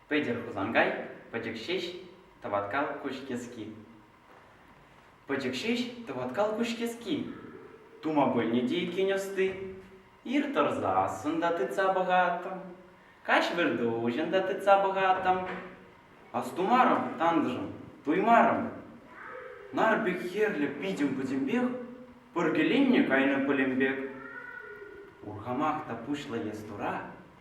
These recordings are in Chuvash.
Пӗтӗр Хусанкай, пӗчӗк ҫеҫ тӑваткал куҫкески. Пӗчӗк ҫеҫ тӑваткал куҫкески. Тума пӗлнӗ те иккен ӑсти. Ир тӑрсассӑн та тытса пӑхаттӑм, каҫ вӗртуҫӑн та тытса пӑхаттӑм. Астумарӑм, тантӑшӑм, туймарӑм. Нар пек хӗрлӗ питӗм-пӗтӗмпех, пӗркеленнӗ кайнӑ пӗлӗм пек. Урхамах та пуҫлӑ ес тура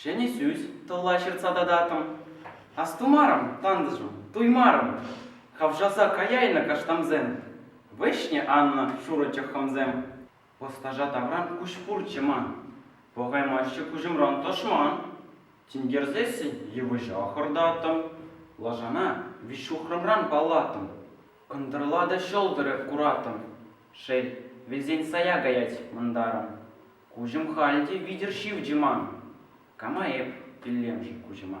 Ҫӗнӗ сӳс тӑлла ҫыртса тататтӑм. Астумарӑм, тантӑшӑм, туймарӑм. Хавшаса каяйнӑ каштансем. Вӗҫнӗ аннӑ шурӑ чӑххӑмсем. Ӑстаҫа тавран куҫ пурччӗ ман. Пӑхаймаҫҫӗ куҫӑмран тӑшман. Тинкерсессӗн йывӑҫа хӑртаттӑм. Лашана виҫҫухрӑмран паллаттӑм. Ӑнтӑрла та ҫӑлтӑрӗ кураттӑм. Шел, вилсен сая каять мӑнтарӑм. Куҫӑм халь те витӗр ҫивчӗ ман. Кама эп, тӳлемшӗн куҫӑма?